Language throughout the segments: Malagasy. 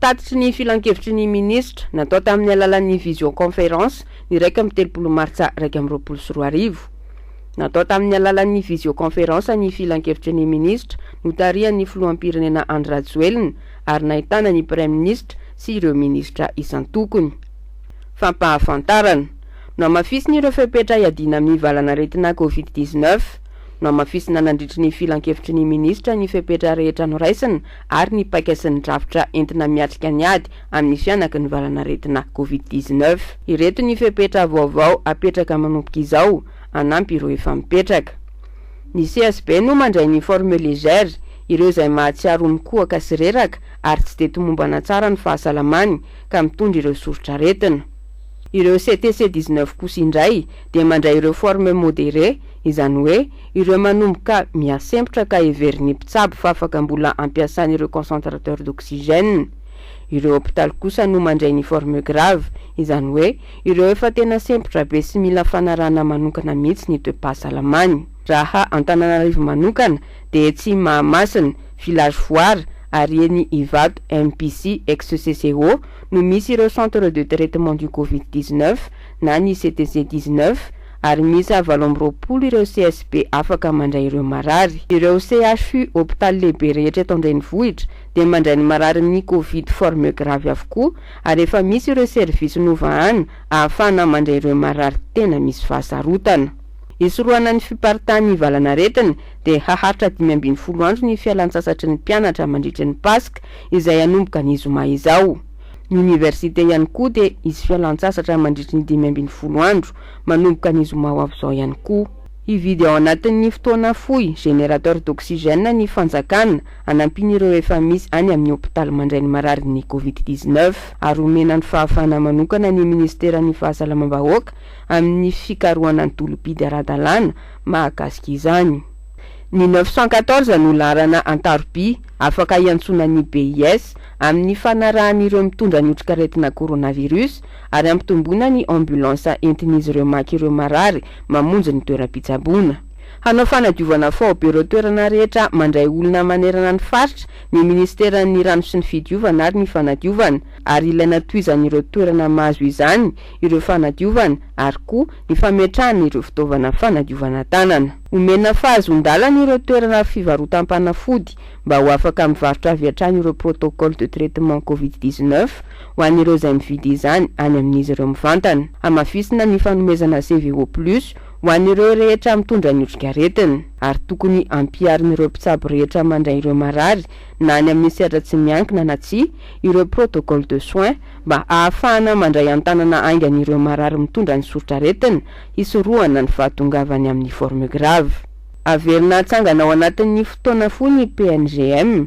Tatitry ny Filankevitry ny Minisitra, natao tamin'ny alalan'ny visioconférence, ny iraika amby telopolo martsa iraika amby roapolo sy roa arivo. Natao tamin'ny alalan'ny visioconférence ny Filankevitry ny Minisitra notarihan'ny Filoham-pirenena Andry Rajoelina ary nahitana ny Praiminisitra sy ireo Minisitra isan-tokony. Fampahafantarana. Nohamafisina ireo fepetra hiadiana amin'ny valanaretina Covid dix-neuf. Nohamafisina nandritry ny Filankevitry ny Minisitra ny fepetra rehetra noraisina ary ny paika sy ny drafitra entina miatrika ny ady amin'ny fihanaky ny valan'aretina Covid dix-neuf. Ireto ny fepetra vaovao hapetraka manomboka izao hanampy ireo efa mipetraka. Ny CSB no mandray ny forme légère, ireo izay mahatsiaro ho mikohaka sy reraka ary tsy dia tomombana tsara ny fahasalamany ka mitondra ireo soritr'aretina. Ireo CTC dix-neuf kosa indray dia mandray ireo forme modérée, izany hoe, Ireo manomboka mihasempotra ka heverin'ny mpitsabo fa afaka mbola ampiasana ireo concentrateur d'oxygène. Ireo hopitaly kosa no mandray ny forme grave, izany hoe ireo efa tena sempotra be sy mila fanarahana manokana mihitsy ny toe-pahasalamany. Raha Antananarivo manokana dia etsy Mahamasina, village Foara, ary eny Ivato, MPC, ex CCO, no misy ireo centre de traitement du Covid dix-neuf na ny CTC dix-neuf, ary miisa valo amby roapolo ireo CSB afaka mandray ireo marary. Ireo CHU, hopitaly lehibe rehetra eto an-drenivohitra, dia mandray ny marary amin'ny Covid forme grave avokoa, ary efa misy ireo serivisy novahana ahafahana mandray ireo marary tena misy fahasarotana. Hisorohana ny fiparitahan'ny valan'aretina, dia haharitra dimy ambin'ny folo andro ny fialan-tsasatry ny mpianatra mandritry ny Paska, izay hanomboka ny zoma izao. Ny oniversite ihany koa dia hisy fialan-tsasatra mandritry ny dimy ambin'ny folo andro, manomboka ny zoma ho avy izao ihany koa. Hividy ao anatin'ny fotoana fohy générateur d'oxygène ny fanjakana hanampian'ireo efa misy any amin'ny hopitaly mandray ny mararin'ny Covid dix-neuf ary homena ny fahafahana manokana ny minisiteran'ny Fahasalamam-bahoaka amin'ny fikarohana ny tolom-pidy ara-dalàna mahakasika izany. Ny neuf cent quatorze no laharana an-taroby afaka hiantsoana ny BIS amin'ny fanarahan'ireo mitondra ny otrikaretina coronavirus ary hampitomboina ny ambulansa entin'izy ireo maka ireo marary mamonjy ny toeram-pitsaboana. Hanao fanadiovana faobe ireo toerana rehetra mandray olona manerana ny faritra ny minisiteran'ny Rano sy ny Fidiovana ary ny Fanadiovana, ary ilaina tohizan'ireo toerana mahazo izany ireo fanadiovana ary koa ny fametrahana ireo fitaovana fanadiovana tanana. Omena fahazoan-dalana ireo toerana fivarotam-panafody mba ho afaka mivarotra avy hatrany ireo protocole de traitement covid dix-neuf, ho an'ireo izay mividy izany any amin'izy ireo mivantana. Hamafisina ny fanomezana CVO Plus ho an'ireo rehetra mitondra ny otrikaretina, ary tokony hampiharin'ireo mpitsabo rehetra mandray ireo marary na any amin'ny sehatra tsy miankina na tsia ireo protocole de soins mba hahafahana mandray an-tanana haingana ireo marary mitondra ny soritraretina hisorohana ny fahatongavany amin'ny forme grave. Haverina hatsangana ao anatin'ny fotoana fohy ny PNGM.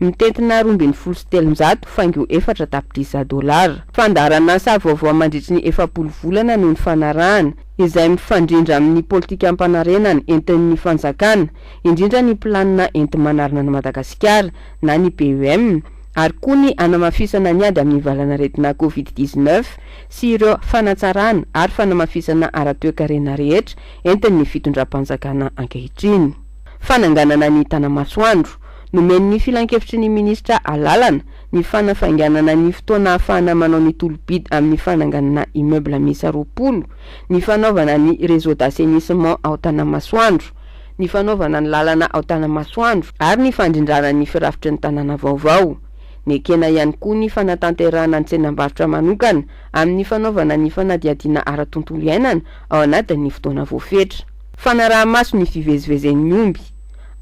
Mitentina roa ambin'ny folo sy telonjato faingo efatra tapitrisa dolara. Fandaharan'asa vaovao mandritry ny efapolo volana no nifanarahana, izay mifandrindra amin'ny politikam-panarenana entin'ny fanjakana, indrindra ny Planina enti-manarina an'i Madagasikara na ny PEM, ary koa ny hanamafisana ny ady amin'ny valanaretina Covid dix-neuf sy ireo fanatsarana ary fanamafisana ara-toekarena rehetra entin'ny fitondram-panjakana ankehitriny. Fananganana ny Tanamasoandro. Nomen'ny Filankevitry ny Minisitra alalana ny fanafainganana ny fotoana ahafahana manao ny tolo-bidy amin'ny fananganana immeuble miisa roapolo, ny fanaovana ny réseau d'assainissement ao Tanamasoandro, ny fanaovana ny lalana ao Tanamasoandro ary ny fandrindrana ny firafitry ny tanàna vaovao. Nekena ihany koa ny fanatanterahana ny tsenam-barotra manokana amin'ny fanaovana ny fanadihadiana ara-tontolo iainana ao anatin'ny fotoana voafetra. Fanaraha-maso ny fivezivezen'ny omby.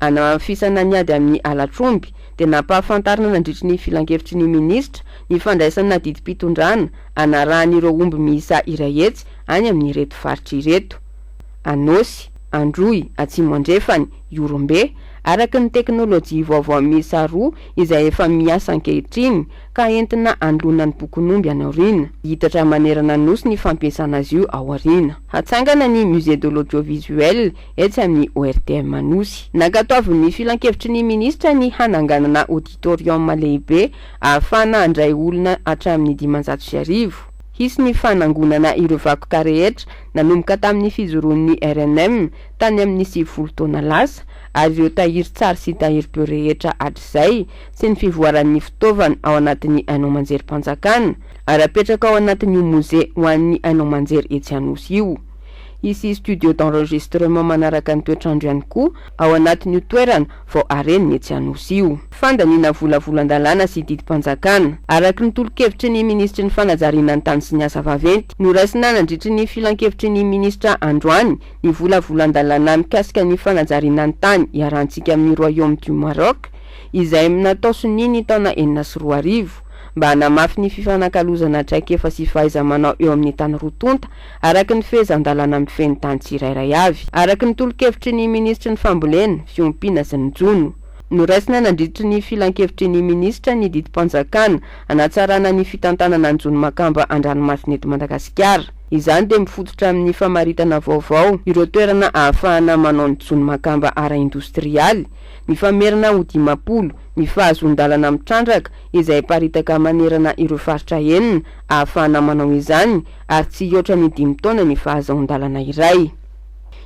Anamafisana ny ady amin'ny halatr'omby, dia nampahafantarina nandritry ny filankevitry ny minisitra ny fandraisana didim-pitondrana hanarahan'ireo omby miisa iray hetsy any amin'ireto faritra ireto, Anôsy, Androy, Atsimo Andrefany, Ihorombe, araka ny teknolojia vaovao miisa roa izay efa miasa ankehitriny, ka entina androana ny bokon'omby any aoriana. Hihitatra manerana ny Nosy ny fampiasana azy io ao aoriana. Hatsangana ny Musée de l'Audiovisuel etsy amin'ny ORTM Anosy. Nankatoavin'ny Filankevitry ny Minisitra ny hananganana Auditorium lehibe ahafahana handray olona hatramin'ny dimanjato sy arivo. Hisy ny fanangonana ireo vakoka rehetra nanomboka tamin'ny fijoroan'ny rnm tany amin'ny sivifolo taona lasa ary ireo tahirin-tsary sy tahirim-peo rehetra hatrizay sy ny fivoaran'ny fitaovana ao anatin'ny haino aman-jerim-panjakana ary apetraka ao anatin'io Mozea ho an'ny haino aman-jery etsy Anosy io. Hisy studio d'enregistrement manaraka ny toetrandro ihany koa ao anatin'io toerana vao harenina etsy Anosy io. Fandaniana vola volan-dalàna sy didim-panjakana, araka ny tolo-kevitry ny minisitry ny fanajariana ny tany sy ny asa vaventy, noraisina nandritry ny filankevitry ny minisitra androany ny vola volan-dalàna mikasika ny fanajariana ny tany iharantsika amin'ny Royaume du Maroc, izay natao sonia ny taona enina sy roa arivo, mba hanamafy ny fifanakalozana traikefa sy fahaiza-manao eo amin'ny tany roa tonta, araka ny fehezan-dalàna mifehy ny tany tsirairay avy. Araka ny tolo-kevitry ny minisitry ny Fambolena, Fiompiana sy ny Jono, noraisina nandritry ny filankevitry ny minisitra ny didim-panjakana hanatsarana ny fitantanana ny jono makamba an-dranomasina eto Madagasikara. Izany dia mifototra amin'ny famaritana vaovao ireo toerana ahafahana manao ny jono makamba ara-indostrialy, mifamerina ho dimampolo ny fahazoan-dalana mitrandraka izay aparitaka manerana ireo faritra enina ahafahana manao izany ary tsy hihoatra ny dimy taona ny fahazaon-dalana iray.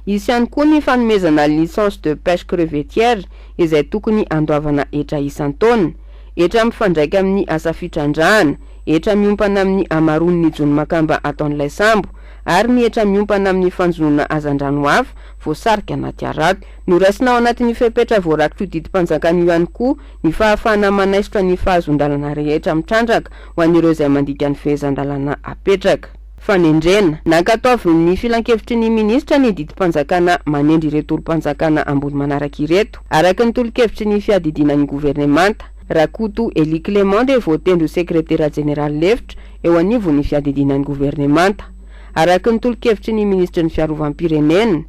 Hisy ihany koa ny fanomezana licence de pêche crevettière izay tokony handoavana hetra isan-taona, hetra mifandraika amin'ny asa fitrandrahana, hetra miompana amin'ny hamaroan'ny jono makamba ataon'ilay sambo ary ny hetra miompana amin'ny fanjonoana hazandrano hafa voasarika anaty harato. Noraisina ao anatin'io fepetra voarak'io didim-panjakana io ihany koa ny fahafahana manaisotra ny fahazoan-dalana rehetra mitrandraka ho an'ireo izay mandika ny fehezan-dalàna apetraka. Fanendrena, Nankatoavin'ny Filankevitry ny Minisitra ny didim-panjakana manendry ireto tolom-panjakana ambony manaraka ireto, araka ny tolokevitry ny Fiadidiana ny Governemanta. Rakoto Elie Clément dia voatendry ho Sekretera Jeneraly Lefitra eo anivon'ny Fiadidiana ny Governemanta, araka ny tolokevitry ny Minisitry ny Fiarovam-pirenena.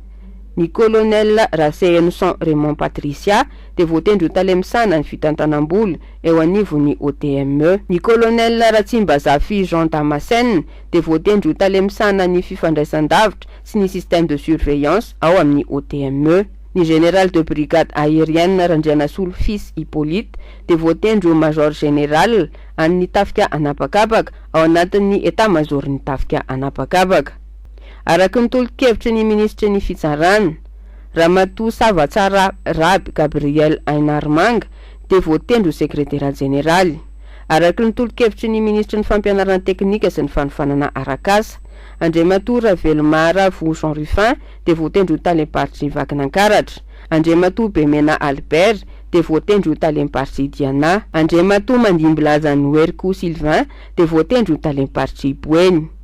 Ny Colonel Rasehenison Raymond Patricia dia voatendry ho tale misahana ny fitantanam-bola eo anivon'ny OTME. Ny Colonel Ratsimbazafy Jean Damascène dia voatendry ho tale misahana ny fifandraisan-davitra sy ny système de surveillance ao amin'ny OTME. Ny Général de Brigade Aérienne Randrianasolo Fils Hyppolite dia voatendry ho Major Général an'ny Tafika An'habakabaka ao anatin'ny Etat-Major-n'ny Tafika An'habakabaka. Araka ny tolo-kevitry ny minisitry ny Fitsarana, Ramatoa Sava Tsara Raby Gabriel Ainarmanga dia voatendry ho sekretera jeneraly. Araka ny tolo-kevitry ny minisitry ny Fampianarana teknika sy ny fanofanana arak'asa, Andriamatoa Ravelomara Vo Jean Rufin dia voatendry ho talem-paritry Vakinankaratra. Andriamatoa Bemena Albert dia voatendry ho talem-paritry Diana. Andriamatoa Mandimbilaza Noeriko Sylvain dia voatendry ho talem-paritry Boeny.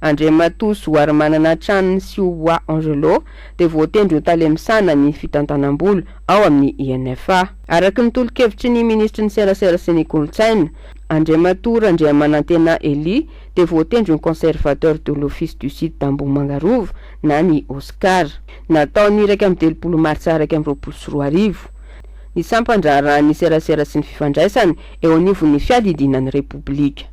Andriamatoa Zoarimanana Tranony sy Oa Angelo dia voatendry ho tale misahana ny fitantanam-bola ao amin'ny INFA. Araka ny tolo-kevitry ny minisitry ny Serasera sy ny Kolontsaina, Andriamatoa Randriamanantena Elie dia voatendry ho Conservateur de l'Office du Site d'Ambohimanga Rova na ny OSCAR. Natao ny iraika amby telopolo martsa iraika amby roapolo sy roa arivo, ny sampan-draharahan'ny serasera sy ny fifandraisana eo anivon'ny Fiadidiana ny Repoblika.